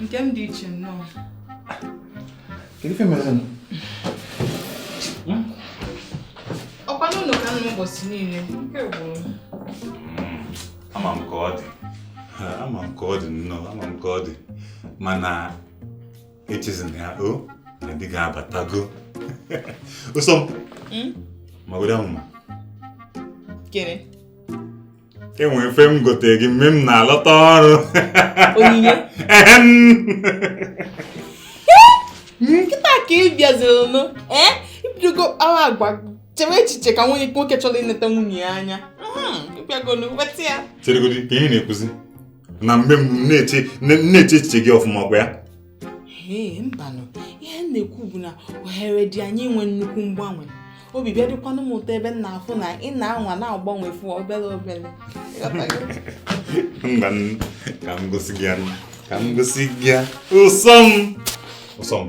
nke m dị iche nnọọ kedu ife mere nụ ọkwa n'ụlọ ka m nọ ụbọchị niile ike gwụrụ ama m ka ọ dị Ha, ama m ka ọ dị nnọọ ama m ka ọ dị mana echezina ya o na di gị abatago ụsọ m magodo amụma kere enwe m ife m gote gị mgbe m na-alọta ọrụ onyinye kịta ka ị bịaziri nụ ee ibidogo kpawa agwa chewe echiche ka nwoke chọrọ ịneta nwunye ya anya bịagonu weta ya cheregodi ka ihe ị na-ekwuzi na mgbe m na-eche echiche gị ọfụma ọkwa ya ee mbanụ ihe m na-ekwu bụ na ohere dị anyị inwe nnukwu mgbanwe obi bịa dịkwanụ m ụtọ ebe m na-afụ na ị na-anwa na-agbanwe fụ obere obere mba ka m gosi gị ya ka m gosi gị ya ụsọ m ụsọ m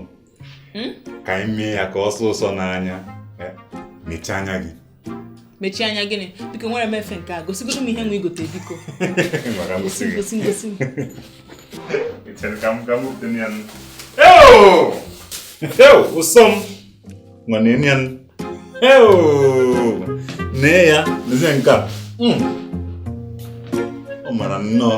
hmm? ka anyị mee ya ka ọ sọọ ụsọ n'anya eh, mechie anya gị mechie anya gịnị biko enwere m efe nke a gosigodo m ihe nwa i gote biko gosi gosi gosi ụsọ m nwere enye m nee ya lezie nke a hmm. ọ mara nnọọ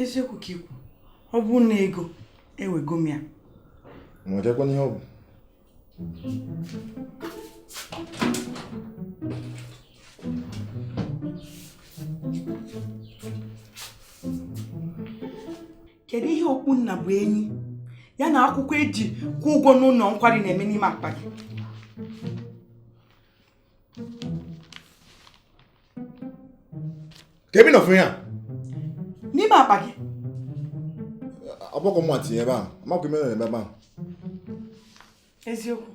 eziokwu ka i kwu ọ bụ na ego ewego m ya nwechakwana ihe ọ bụ kedu ihe okpu nnabuenyi a na akwụkwọ e ji kwụọ ụgwọ n'ụlọ nkwari na-eme n'ime akpa gị kee ebe ị nọ fụ ya n'ime akpa gị ọ bụrọ mụwa tinye ebe ahụ amakwa ime na ebe ahụ eziokwu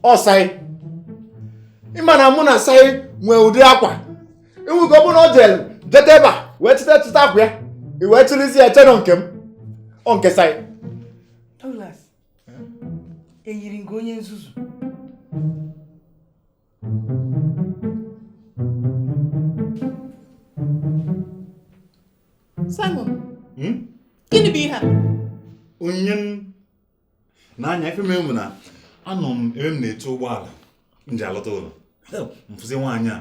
ọ sai ị ma na mụ na sai nwee ụdị akwa e nwe ike ọ bụrụ na ọ jere jeta ebe a wee chịta chịta akwa ya i wee chịrịzi ya chee na ọ nke m ọ nke sai eyiri m gị onye nzuzu Simon hmm? gịnị bụ ihe a onye m na-anya ife m na anọ m ebe m na-eto ụgbọala m ji alọta ụlọ m fụzi nwaanyị a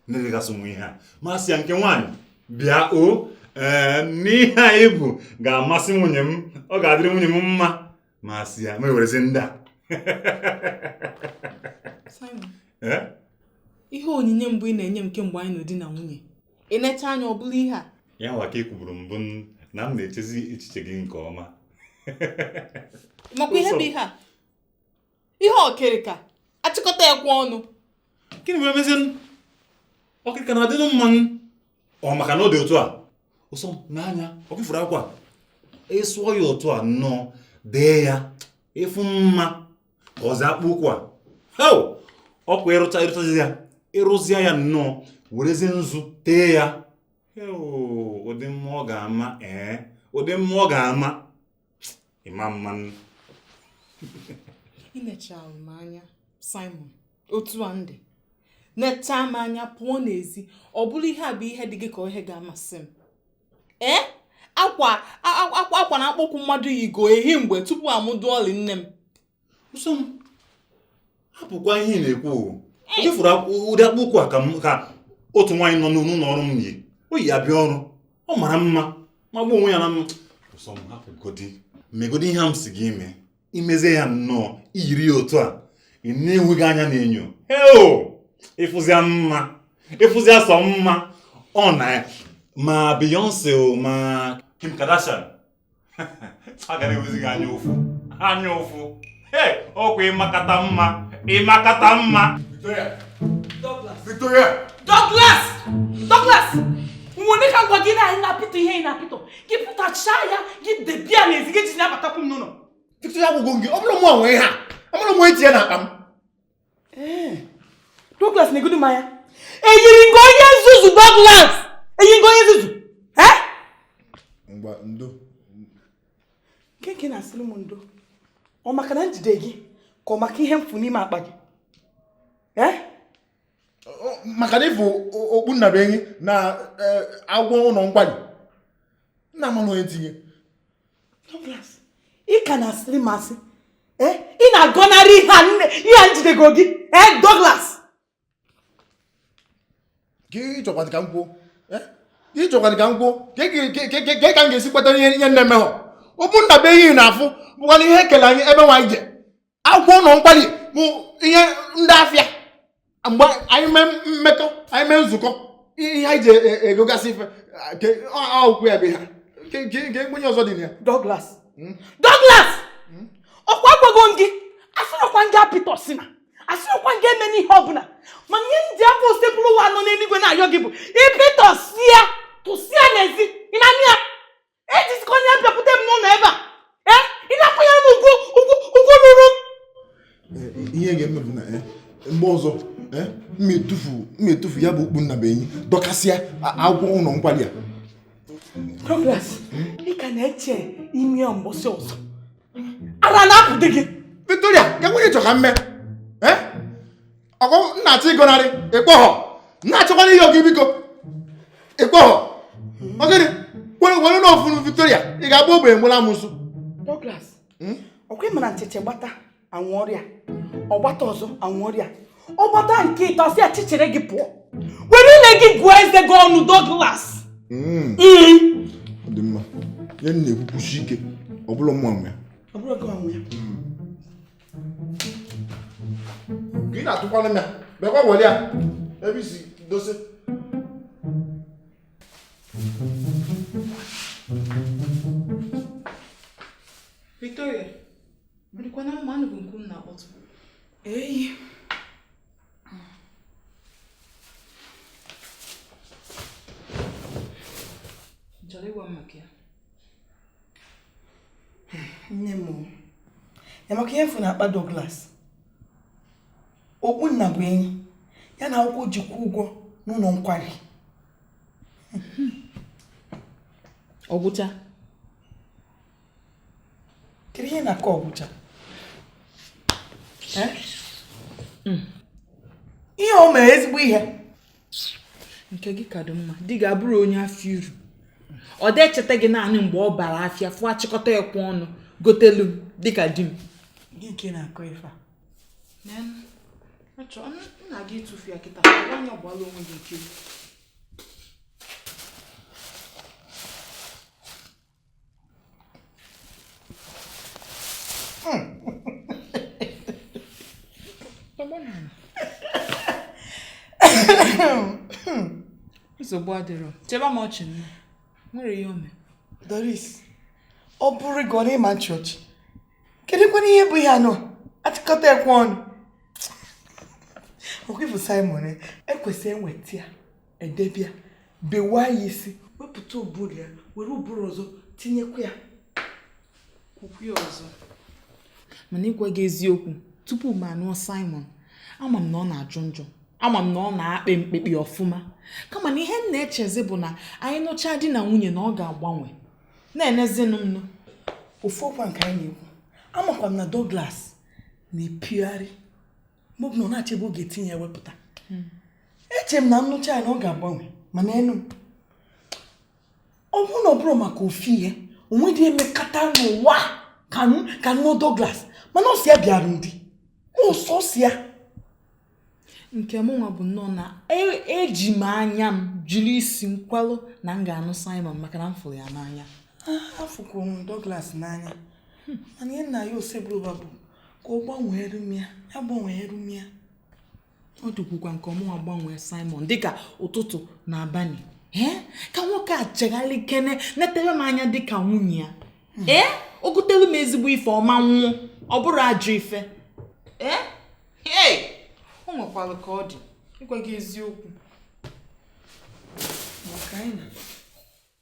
na-eregasị nwa ihe a m asị ya nke nwaanyị bịa o ee n'ihe a i bu ga-amasị nwunye m ọ ga-adịrị nwunye m mma masị ya m ewerezi ndị a Simon, Eh? ihe onyinye mbụ ị na-enye m kemgbe anyị nọ di na nwunye ị nechaa anya ọ bụrụ ihe a ya nwa ka ị kwuburu mbụ n- na m na-echezi echiche gị nke ọma makwa ihe bụ ihe a ihe ọkịrịka a chịkọta e kwe ọnụ gịnị wee mezie ọkịrịka na-adịnụ mma nụ ọ maka na ọ dị otu a ụsọ m nee anya ọkwa ị fụrụ akwa ị sụọ ya otu a nnọọ dee ya ị fụ mma ka ọzi akpụ ụkwụ a heo ọkwa ị rụcha ị rụchazi ya ị rụzia ya nnọọ werezie nzu tee ya heo ụdị mma ọ ga-ama ee ụdị mma ọ ga-ama ịma mma nụ i nechara m anya Simon otu a m dị nechaa m anya pụọ n'ezi ọ bụrụ ihe a bụ ihe dị gị ka ihe ga-amasị m ee eh? akwa akwa na akpụ ụkwụ mmadụ yigo ehi mgbe tupu a mụdụ ọlị nne m ụsọ m hapụkwa ihe ị na-ekwu o ị fụrụ ụdị akpụ ụkwụ a ka otu nwaanyị nọ n'ụlọ ọrụ m yi o yi abịa ọrụ ọ mara mma magbuo onwe ya na mma ụsọ m hapụgodi megodi ihe m sị gị mee i mezie ya nnọọ i yiri ya otu a i nee onwe gị anya n'enyo heo ị fụzịa mma ị fụzịa sọ mma ọ na ma Beyonce o ma Kim Kardashian a ga na-enwezi gị anya ụfụ anya ụfụ ee ọkwa ị makata mma ị makata mma Victoria Victoria Douglas Douglas nene ka ngwa gị na anyị na-apịtọ ihe ị na-apịtọ gị pụtachaa ya gị debia n'ezi gị ji na-abatakwu m n'ụlọ Victoria gwụgwụ gị ọ bụrọ mụ nwe ha amarọ m onye tinye n'akpa m Eh, Douglas negodu m anya eyiri m gị onye nzuzu Douglas eyiri m gị onye nzuzu eh? ngwa ndo nke nke ị na-asịrị m ndo ọ maka na m jide gị ka ọ maka ihe m fụ n'ime akpa gị eh? maka na i bu okpu nnabenyi na-aga ụlọ nkwari na amarọ m onye tinye ị ka na-asịrị m asị eh, ị na-agọnarị ihe a nne ihe a m jidego gị ee eh, Douglas ka ị chọkwazị ka m kwuo eh? ị chọkwazị ka m kwuo ke ka m ga-esi kweta ihe ihe m na-emehọ okpu nnabenyi ị na-afụ bụkwanụ ihe e kele anyị ebe anyị je akwụkwọ ụlọ nkwari bụ ihe ndị afịa mgbe anyị mee mmekọ anyị mee nzukọ ihe anyị ji e, e, egogasị ife akwụkwọ ya bụ ha nke mgbenye ọzọ dị na ya Douglas hmm? Douglas hmm? ọkwa agwago m gị asịrọkwa m gị apịtọsina asịrọkwa m gị emena ihe ọbụla mana ihe m ji afa Osebụrụwa nọ n'eluigwe na-ayọ gị bụ ị pịtọsịa tụsịa n'ezi ị na-anụ ya ejizikwana ya abịakwute m n'ụlọ ebe a ee ị na-akwanyere m ugwu ugwu ugwu ruru m ihe ga-eme bụ na eh, mgbe ọzọ eh, m etufuo m etufuo ya bụ okpu nnabuenyi dọkasịa akwụkwọ ụlọ nkwari a Douglas ị ka na-eche ime ya mbọsị ọzọ ara na-apụdị gị Victoria, kekwanụ ihe ị chọ ka m mee ọ bụ m na-achọ ịgọnarị ịkpọhọ na-achọkwanụ ihe oge biko ịkpọhọ ọgịnị were were na ofuru Victoria ị ga-agba ogbenye nwere amosu Douglas hmm? ọkwa ị mara na chiche gbata anwụrịa ọgbata ọzọ anwụrịa ọgbata nke ịtọ a sị ya chichere gị pụọ were ile gị gụọ eze gị ọnụ Douglas hmm. Hmm. dị mma ihe m na-ekwukwusi ike ọ bụ na mụ nwe ya gị na-atụkwanụ m ya biko were ya ebe isi dozie Victoria, bụrụkwana ụmụ anụ bụ nke unu na-akpọtụ. Eyi. Chọrọ ịgwa m maka ya. nne m ya maka ihe m fụ n'akpa Douglas okpu nnabuenyi ya na akwụkwọ o ji kwụọ ụgwọ n'ụlọ nkwari ọgwụcha kedu ihe ị na-akọ ọgwụcha ihe o mere ezigbo ihe nke gị ka dị mma di gị abụrọ onye afụ iru ọ dị echeta gị naanị mgbe ọ bara afịa fụọ achịkọta ekwe ọnụ gotelu m dịka di m Gị nke na-akọ ife a. achọrọ m nna gị ịtụfu ya kịta onye ọgbala onwe gị ike nsogbu adịrọ chịba m ọchị nne o nwerọ ihe o me Doris ọ bụrụ gị ọ na ị ma-achị ọchị kedụkwanụ ihe bụ ihe ahụ achịkọta ekwe ọnụ ọkwa ife Simon ekwesị enweta ya e debe ya bewa ya isi wepụta ụbụrụ ya were ụbụrụ ọzọ tinyekwa ya kwukwu ya ọzọ mana ịgwa gị eziokwu tupu m anụọ Simon ama m na ọ na-ajọ njọ ama m na ọ na-akpe mkpekpe ọfụma kama na ihe m na-echezi bụ na anyị nụchaa di na nwunye na ọ ga-agbanwe na-enezinụ m nụ ofu ọkwa nke anyị na-ekwu amakwa m na Douglas na-epigharị mgbe ọbụla ọ na-achọ ebe ọ ga-etinye ya wepụta hmm. eche m na m nụcha ya na ọ ga-agbanwe mana enu m ọ bụrụ na ọ bụrọ maka ofu ihe o nwedị e mekata n'ụwa ka m nụọ Douglas mana ọ si ya bịara ndị ọsọ si ya nke mụnwa bụ nnọọ na eji m anya m jiri isi m kwalụ na m ga-anụ Simon maka na m fụrụ ya n'anya ah, afụkwuru m Douglas n'anya hmm. mana ihe m na-ayọ Osebụrụwa bụ ka ọ gbanweere m ya ya gbanweere m ya ọ dịkwukwa nke mụnwa gbanwee Simon dịka ụtụtụ na abalị ee ka nwoke a chegharịkene netere m anya dịka nwunye ya hmm. ee o gotere m ezigbo ife ọ ma anwụ ọ bụrọ ajọ ife ee ee o nwekwara ka ọ dị ịgwa gị eziokwu maka anyị na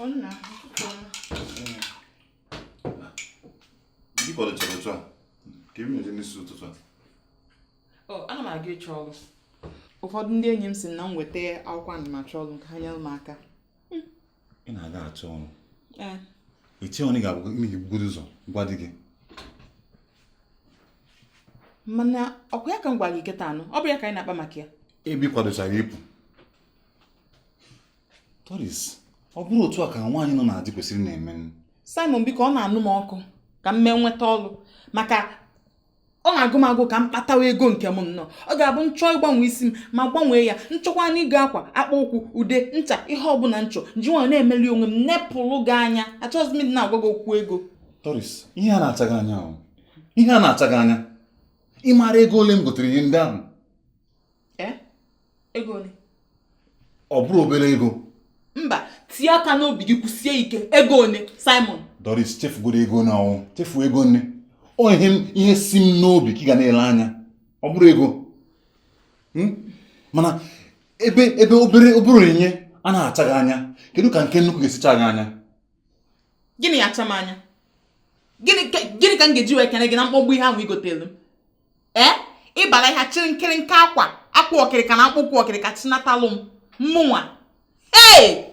Ọ nna, ụtụtụ ọma. Gị kwadochara otu a, ka ị na-eje n'isi ụtụtụ a. Ọ, ana m aga ịchọ ọrụ. Ụfọdụ ndị enyi m sị na m weta akwụkwọ ana m achọ ọrụ ka ha nyere m aka. Ị na-aga achọ ọrụ. Ee. Eche ọnụ ga-abụ ime gị bugodo ụzọ gwa di gị. Mana ọkwa ya ka m gwara gị kịtaa nụ, ọ bụ ya ka anyị na-akpa maka ya. Ebe ị kwadochara ịpụ. Doris ọ bụrọ otu a ka nwaanyị nọ na di kwesịrị na-eme Simon biko ọ na-anụ m ọkụ ka m mee nweta ọrụ maka ọ na-agụ m agụ ka m kpatawa ego nke m nnọọ ọ ga-abụ m chọọ ịgbanwe isi m mụ agbanwee ya m chọkwanụ ịgo akwa akpa ụkwụ ude ncha ihe ọbụla m chọ m ji nwayọ na-emeli onwe m nepụrụ gị anya achọghịzi m ịdị na-agwa gị okwu ego Doris ihe a na-acha gị anya ahụ ihe a na-acha gị anya ị maara ego ole m gotere ihe ndị ahụ ego ole ọ bụrọ obere ego mba tie aka n'obi gị kwụsie ike ego ole simon doris chefugodo ego na ọnwụ chefu ego nne ọ ihe m- ihe si m n'obi ka ị ga na-ele anya ọ bụrọ ego Hmm? mana ebe ebe obere obere onyinye a na-acha gị anya kedu ka nke nnukwu ga-esi chaa gị anya gịnị ya acha m anya gịnị ka gịnị ka m ga-eji wee kene gị na mkpọgbu ihe ahụ i gotere m ee eh? ị bara ahịa chịrị nkịrịnka akwa akwa ọkịrịka na akpụkwụ ọkịrịka chinatalụ m mụnwa ee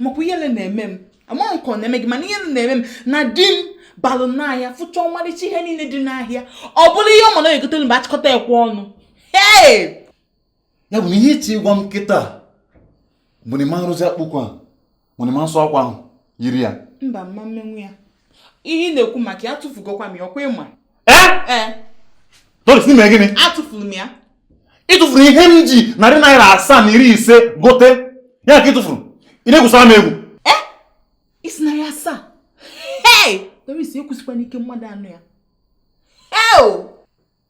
makwa ihere na-eme m amaghị nke ọ na-eme gị mana ihere na-eme m na di m balụ n'ahịa fụcha ọmarịcha ihe niile dị n'ahịa ọ bụrụ ihe ọ ma na egotere m bụ achịkọta ekwe ọnụ ee ya bụ na ihe ị chọ ịgwa m kịta bụ na ị ma nrụzi akpụkọ a bụ na ị ma nsụ akwa ahụ yiri ya mba m ma mmenwu ya ihe ị na-ekwu maka ya atụfugokwa m ya ọkwa ị ma ee doris na i me gịnị atụfuru m ya ị tụfuru ihe m ji narị naira asaa na iri ise gote ya ka ị tụfuru ị na-egwusara m egwu ee ị sị narị asaa hei doris ekwusikwana ike mmadụ anụ ya eo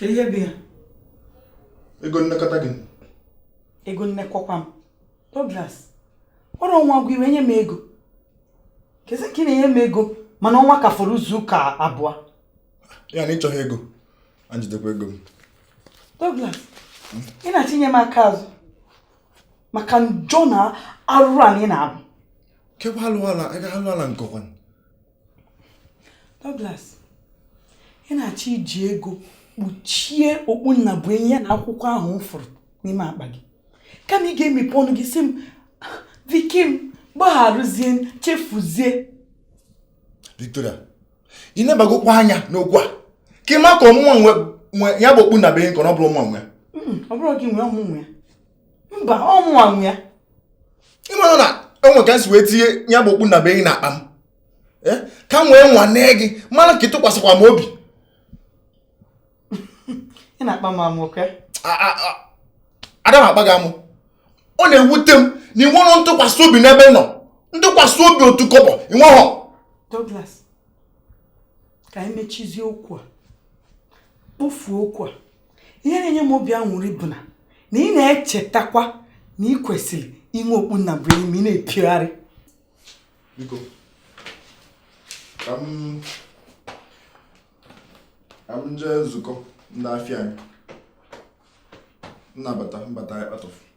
ihe bụ ya ego nnekọta gị ego nnekọkwa m Douglas o ru ọnwa gwụ ị wee nye m ego kezi nke ị na-enye m ego mana ọnwa ka fọrọ izu ụka abụọ ya na ị chọghị ego a m jidekwa ego m Douglas ị na-achịnye m aka azụ maka njọ na arụrụ ana ị na-abụ kekwa alụ ala aga alụ ala nke ọkwa Douglas ị na-achọ iji ego kpuchie okpu nna bụ enyi ya na akwụkwọ ahụ m fụrụ n'ime akpa gị kama ị ga-emepe ọnụ gị sị m viki m gbagharụzie chefuzie Victoria ị nebagokwa anya n'okwu a ka ị ma ka ọ mụnwa nwe ya bụ okpu nna bụ enyi ka ọ bụrọ mụnwa nwe hmm, ọ bụrọ gị nwe ọ mụ nwe ya mba ọ mụwa nwe ya ị mara na enwe ka m si wee tinye ya bụ okpu nna bụ enyi na akpa m eh? ka m wee nwanee gị mara ka ị tụkwasịkwa m obi ị na-akpa m amụ ka ada m akpa gị amụ ọ na-ewute m na ị nwerọ ntụkwasị obi n'ebe m nọ ntụkwasị obi otu kọbọ ị nweghọ Douglas ka anyị mechizie okwu a kpofuo okwu a ihe na-enye m obi anwụrị bụ na na ị na-echetakwa na ị kwesịrị inwe okpu nna bụ enyi ma ị na-epigharị biko ka m ka m jee nzukọ ndị afịa anyị m na-abata m bata ya kpatụfụ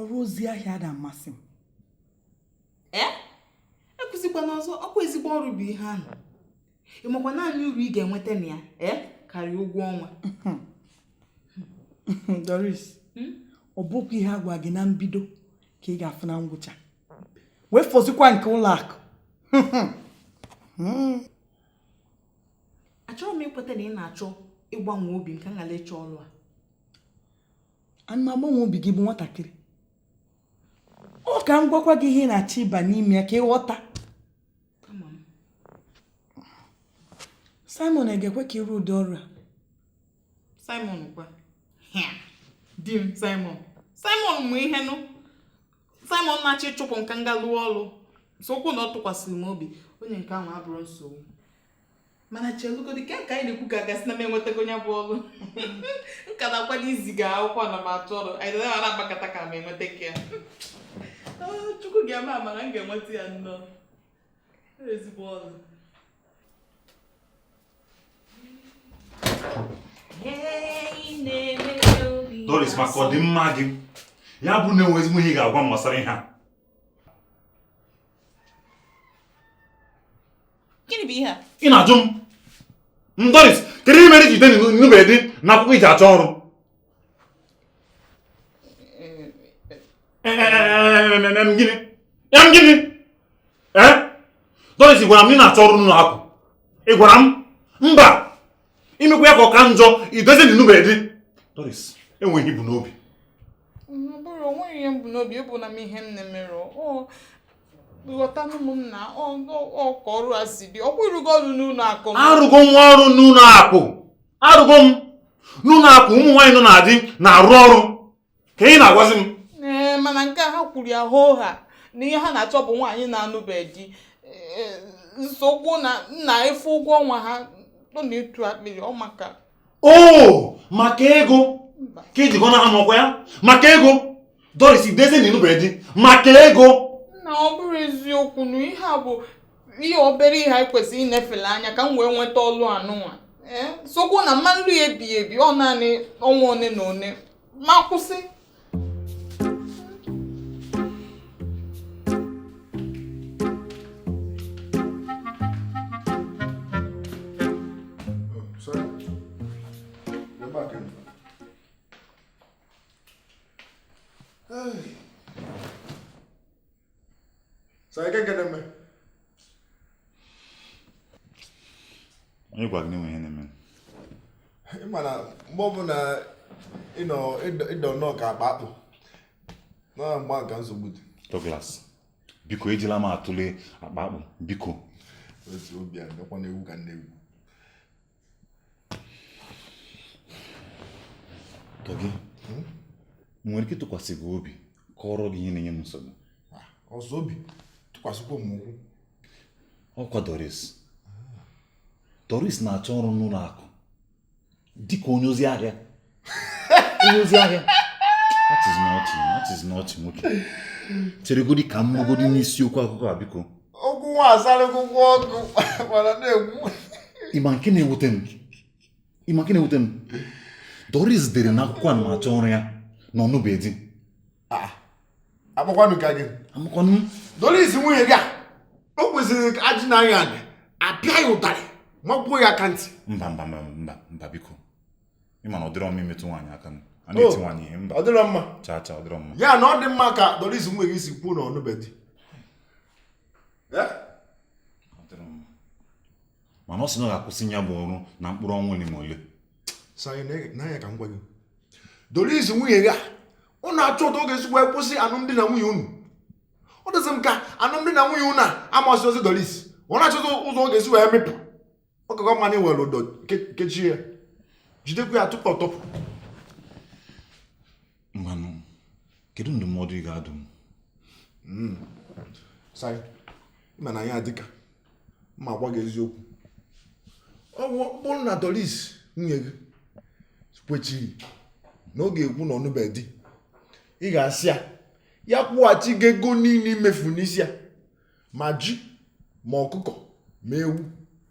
ọrụ ozi ahịa ada amasị m ee ekwuzikwana ọzọ ọkwa ezigbo ọrụ bụ ihe ahụ ị makwa naanị uru ị ga-enweta na ya ee karịa ụgwọ ọnwa doris hmm? ọ bụkwa ihe a gwa gị na mbido ka ị ga-afụ na ngwụcha wee fọzikwa nke ụlọ akụ hmm. achọrọ m ikweta na ị na-achọ ịgbanwe obi m ka m ghara ịchọ ọrụ a ada m agbanwe obi gị ị bụ nwatakịrị ọ ka m gwakwa gị ihe ị na-achọ ịba n'ime ya ka ị ghọta Simon ga-ekwe ka ị rụ ụdị ọrụ a Simon kwa di m Simon Simon mụ ihe nụ Simon na-achọ ịchụpụ m ka m ga lụọ ọrụ sokwu na ọ tụkwasịrị m obi onye nke ahụ abụrọ nsogbu mana chelugodi ke ka anyị na-ekwu ka a ga-asị na m enwetagonụ ya bụ ọrụ m ka na-akwado iziga akwụkwọ na m achọ ọrụ anyị dara ara agbakọta ka m enweta ka ya ah, chukwu ga-eme amara m ga-enweta ya nnọọ ezigbo ọrụ Doris maka ọdịmma gị ya bụ na enwe ezigbo ihe ị ga-agwa m gbasara ihe a gịnị bụ ihe a ị na-ajụ m Doris kedu ihe mere i ji dee na ịnụbeghị di na akwụkwọ iji achọ ọrụ gịnị ya m gịnị Doris ị gwara m ị na-achọ ọrụ n'ụlọ akụ ị gwara m mba imekwa ya ka ọ ka njọ i dezie na ịnụbeghị di Doris enweghị ihe m bu n'obi bụrụ onweghị ihe m bu n'obi ebụla m ihe nne mere ghọtanụ m na ọ ka ọrụ a si dị ọkwa ị rụgo ọrụ n'ụlọ akụ arụgo m ọrụ n'ụlọ akụ arụgo m n'ụlọ akụ ụmụ nwaanyị nọ na di na-arụ ọrụ kee ihe ị na-agwazi m ee mana nke ha kwuru ya hoo haa na ihe ha na-achọ bụ nwaanyị na-anụbeghị di nsogbu na nna ị fụ ụgwọ ọnwa ha ọ na-etu akpịrị ọ maka ọ maka ego ka i ji gọnahụ m ọkwa ya maka ego Doris i dezie na ịnụbeghị di maka ego na ọ bụrụ eziokwu na ihe a bụ ihe obere ihe anyị kwesịrị ịnefele anya ka m wee nweta ọlụ a nụnwa sokwu na m ma arụ ya ebighị ebi ọ naanị ọnwa one na one m akwụsị So I can get them. Onye gwara gị na e nwe ihe na-eme m? Ị ma na mgbe ọbụla ị dọ nnọọ ka akpa akpụ na mgba nka nsogbu dị. Douglas, biko ejila m atụle akpa akpụ, biko. Otu obi a, ndekwa na ewu ka nne ewu. Dougie hmm? nwere ike ịtụkwasị gị obi kọrọ gị ihe na-enye m nsogbu ah, ọ sọ obi tụkwasịkwa m ụkwụ ọkwa Doris Doris na-achọ ọrụ n'ụlọ akụ dịka onye ozi ahịa onye ozi ahịa that is not that is not nwoke cheregodi ka m magodi n'isiokwu akụkọ a biko okwu nwa azarịgo ụgwọ ọgụ mana na-egwu ị ma nke na-ewute m ị ma nke na-ewute m doris dere na akwụkwọ anamachọ ọrụ ya na ọ nụbe di ah, amakwanụ ka gị amakwanụ doris nwunye gị a o kwesịrị ka ajị na anya apịa ya ụtarị magbuo ya aka ntị mba mba mba mba biko ị ma na ọ dịrọ mma imetụ nwaanyị aka m a Oh. na-eti nwaanyị ihe mba ọ dịrọ mma chaa chaa ọ dịrọ mma ya na ọ dị mma ka doris nwunye gị si kwuo na ọ nụbe di Ọ dịrọ mma. mana ọ sị na ọ ga-akwụsị ya bụ ọrụ na mkpụrụ ọnwa ole ma ole nee anya ka m gwa gị doris nwunye gị a ọ na-achọ etu ọ ga-esi wee kwụsị alụmdi na nwunye unu ọ dịzị m ka alụmdi na nwunye unu a amasịrọzi doris ọ na-achọta ụzọ ọ ga-esi wee mịpụ ọ ka gị mma na i were ụdọ kechie ya jidekwa ya tupu ọ tọpụ ngwanụ kedu ndụmọdụ ị ga-adụ m hmm. sai ị ma na ya dịka m agwa gị eziokwu ọ bụrụ na doris nwunye gị kwechiri na ọ ga-ekwu na ọ nụbe di ị ga-asị ya ya kwụghachi gị ego niile i mefu n'isi ya ma ji ma ọkụkọ ma ewu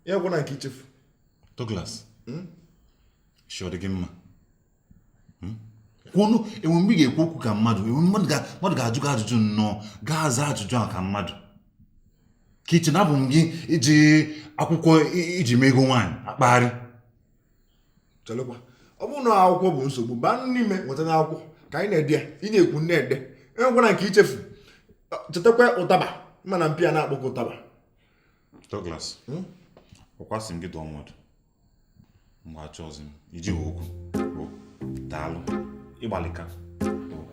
ya enwena nke i chefu Douglas hmm? isi ọ dị gị mma hmm? kwuonụ enwe mgbe ị ga-ekwu okwu ka mmadụ mmadụ ga-ajụ gị ajụjụ nnọọ ị ga-aza ajụjụ a ka mmadụ ka i che na abụ m gị i ji akwụkwọ i ji mee ego nwaanyị akpagharị chelekwa ọ bụrụ na akwụkwọ bụ nsogbu baa n'ime wetanụ akwụkwọ ka anyị na-ede ya ị na-ekwu m na-ede enwekwana nke i chefu chetakwa ụtaba mana mpi a na-akpọkọ ụtaba Douglas hmm? ọ kwa sị m gị dụọ m ọdụ mba achọzi m iji okwu daalụ ị gbalịka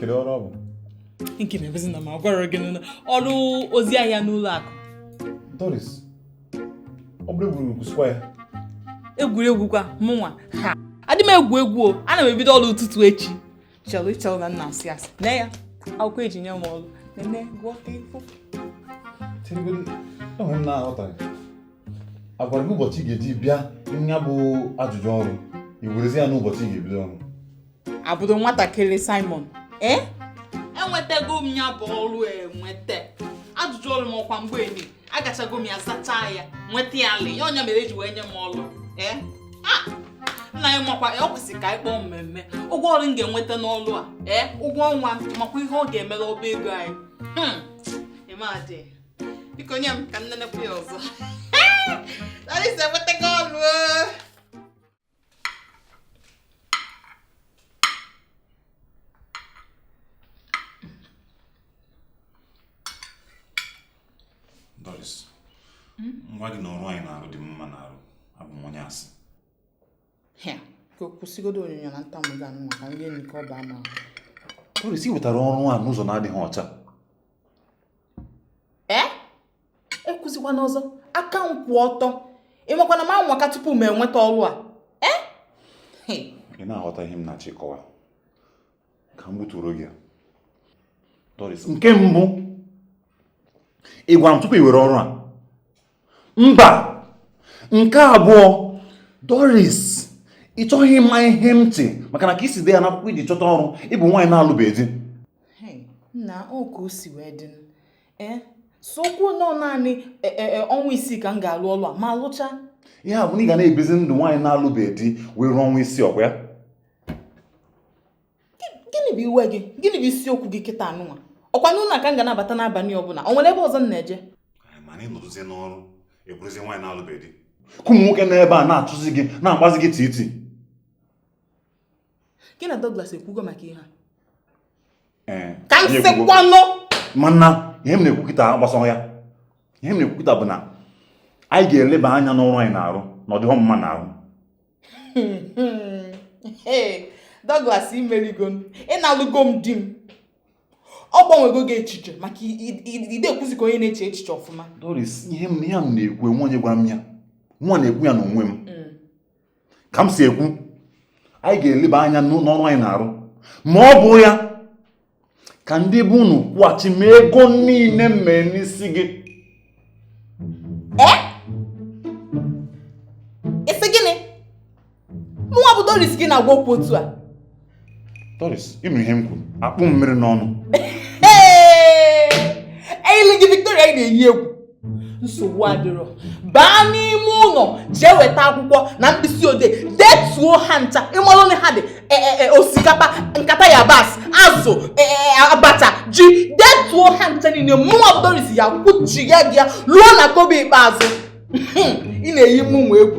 kedu ọrụ ọ bụ nke na-ebezi na m agwara gị na ọrụ ozi ahịa n'ụlọ akụ Doris ọ bụrụ egwuregwu kwụsịkwa ya egwuregwu kwa mụnwa ha adị m egwu egwu o ana m ebido ọrụ ụtụtụ echi chelụ ị chelụ na m na-asị asị nee ya akwụkwọ eji nye m ọrụ nene gụọ ka ị fụ Cheregodi, o nwe ihe m na-aghọtaghị a gwara gị ụbọchị ị ga-eji bịa nya bụ ajụjụ ọrụ i werezi ya n'ụbọchị ị ga-ebido ọrụ abụdo nwatakịrị Simon ee enwetago m ya bụ ọrụ enweta ajụjụ ọrụ m ọkwa mgbe enyi agachago m ya zachaa ya nweta ya ala nya mere eji wee nye m ọrụ ee nna ị makwa na o kwesịrị ka anyị kpọọ mmemme ụgwọ ọrụ m ga-enweta n'ọrụ a ee ụgwọ ọnwa ị makwa ihe ọ ga-emere ọba ego anyị hmm. ịmadị biko nye m ka m nenekwu ya ọzọ Doris enwetago ọrụ! Doris, m gwa gị na ọrụ a ị na-arụ dị m mma n'arụ abụ m onye asị Hịa, ka kwụsịgodo onyonyo na ntamu gị anụ maka ndị enyi ka ọ baa ma Doris, ị wetara ọrụ a n'ụzọ na-adịghị ọcha ee ekwuzikwana ọzọ aka m kwụ ọtọ ị makwa na m anwaka tupu m enweta ọrụ a eh? ị na-aghọta ihe m na-achọ ịkọwa ka m gbuturu gị Doris nke mbụ ị gwara m tupu ị were ọrụ a mba nke abụọ Doris ị chọghị ịma ihe m ntị maka na ka i si dee ya n'akwụkwọ i ji chọta ọrụ ị bụ nwaanyị na-alụbeghị di nna ọ ka o si wee dị ee eziokwu na ọ naanị e, e, e, ọnwa isii ka m ga-alụ ọlụ a m alụcha ya bụ na ị ga na-ebizi ndụ nwaanyị na-alụbeghị di wee ruo ọnwa isii ọkwa ya gịnị bụ iwe gị gịnị bụ isiokwu gị kịta anụnwa ọkwa n'ụlọ ka m ga na-abata n'abalị ọbụla o nwere ebe ọzọ m na-eje mana ị nọrụzie n'ọrụ ị bụrụzie nwaanyị na-alụbeghị di ka ụmụ nwoke nọ ebe a na-achụzi gị na-agbazi gị titi gị na Douglas ekwugo maka ihe a eh, ka m sịkwanụ mana ihe m na-ekwu kịta gbasara ya ihe m na-ekwu kịta bụ na anyị ga-eleba anya n'ọrụ a ị na-arụ na ọ dịghọ m mma n'arụ Douglas i merigo m ị nalụgo m di m ọ gbanwego gị echiche maka ị da-ekwuzi ka onye na-eche echiche ọfụma Doris ihe niile a m na-ekwu enwe onye gwara m ya mụnwa na-ekwu ya n'onwe m hmm. ka m si ekwu anyị ga-eleba anya n'ọrụ a ị na-arụ ma ọ bụ ya ka ndị be unu kwụghachi m ego niile m mee n'isi gị eh? ị sị gịnị mụnwa bụ Doris ka ị na-agwa okwu otu a Doris, ị nụ ihe m kwuru, akpụ m mmiri n'ọnụ. Eyili gị Victoria ị na-eyi egwu. Nsogbu adịrọ. Baa n'ime ụlọ jee weta akwụkwọ na mkpịsị odee detuo ha ncha ị malụ na ha dị e, e, e, osikapa nkata yabasị azụ abacha ji detuo ha ncha niile mụnwa bụ Doris ya-akwụchigha gị ya ruo na kobo ikpeazụ ị na-eyi mụnwa egwu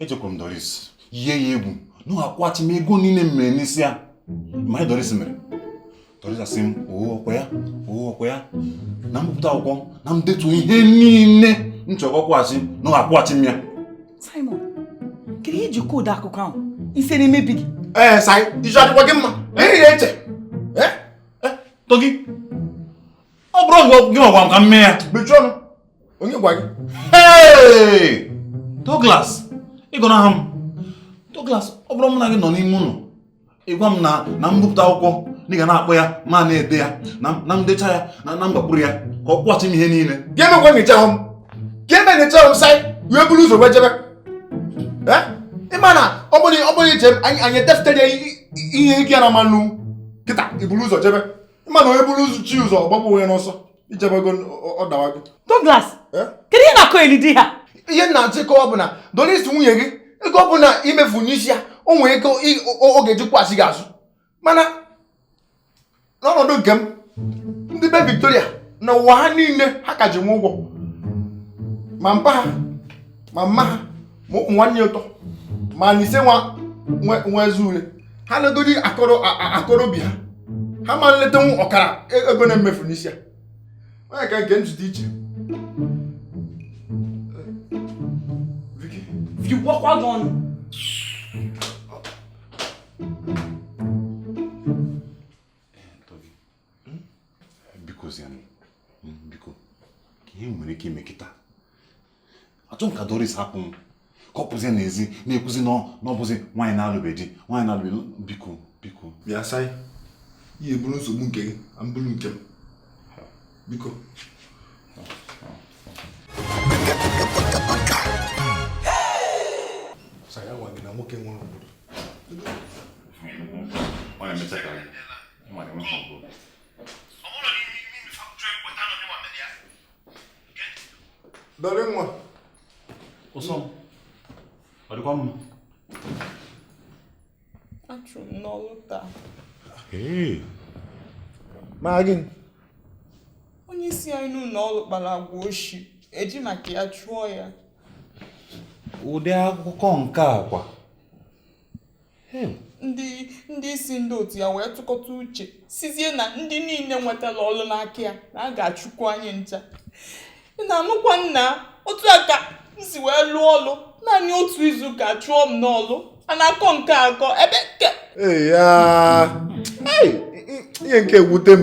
ejekwuru m Doris yie ya egwu na ọ akwụghachi m ego niile m mere n'isi ya ị ma ihe Doris mere Doris asị m oo ọkwa ya oo ọkwa ya na m bupụta akwụkwọ na m detuo ihe niile m chọrọ ọ kwụghachi na ọ akwụghachi m ya Simon kedu ihe i ji kọọ ụdị akụkọ ahụ isi na-emebi gị ee eh, sai isi ọ dịkwa gị mma na ihe ya eche eh? eh? tọgị ọ bụrọ gị gị gwa m ka m mee ya mechie ọnụ onye gwa gị Hey! Douglas ị gọnaha m Douglas ọ bụrọ mụ na gị nọ n'ime ụlọ ị gwa m na na m bupụta akwụkwọ na ị ga na-akpọ ya m ana-ede ya na na m dechaa ya na na m gbakwuru ya ka ọ kwụghachi m ihe niile gị emekwa nyecha ahụ m gị eme nyecha ahụ m saị wee buru ụzọ wee jebe Eh? ị ma na ọ bụrụ ọ bụrụ i che m anyị anyị etefutere ya i- i- ihe gị ya na mmanụ kịta i buru ụzọ jebe ị ma na onye buru ụzọ chi ya ụzọ ọ gbagbuo onwe ya n'ọsọ i jebago ọ dawago Douglas Eh? kedu ihe ị na-akọyeli di ha ihe m na-achọ ịkọwa bụ na doris nwunye gị ego ọ bụla i mefu n'isi ya o nwere ike ị- o- ọ ga-eji kwụghachi gị azụ mana n'ọnọdụ nke m ndị be victoria na ụwa ha niile ha ka ji m ụgwọ ma mpa ha ma mma ha ma ụmụ nwanne ya atọ ma na ise nwa nwa ezi ụlọ ha legodi akọrọ akọrọ obi ha ha ama nletanwu ọkara e, ego m na-emefu n'isi ya onye ka nke njide iche Vicky gwakwa gị ọnụ hmm? biko zianụ hmm, biko kee ihe e nwere ike ime kịta achọrọ m ka Doris hapụ m ka ọ pụzie n'ezi na-ekwuzi na ọ bụzi nwaanyị na-alụbeghị di nwaanyị na-alụbeghị biko biko bịa sai ị ya-eburu nsogbu nke gị m buru nke m biko saya nwa gị na nwoke nwere obodo Dọrị nwa. Ụsọ m. Ọ dịkwa mma. A chụrụ m n'ọlụ taa. Maka gịnị. Onye isi anyị n'ụlọ ọrụ kpara agwa oshi e ji maka ya chụọ ya. Ụdị akụkọ nke a kwa. ndị ndị isi ndị otu ya wee tụkọta uche sizie na ndị niile nwetara ọrụ n'aka ya na a ga-achụkwu anyị ncha na-anụkwa nna otu a ka m si wee lụọ ọrụ naanị otu izu ka a chụọ m n'ọrụ a na-akọ nke akọ ebe nke ihe nke a ewute m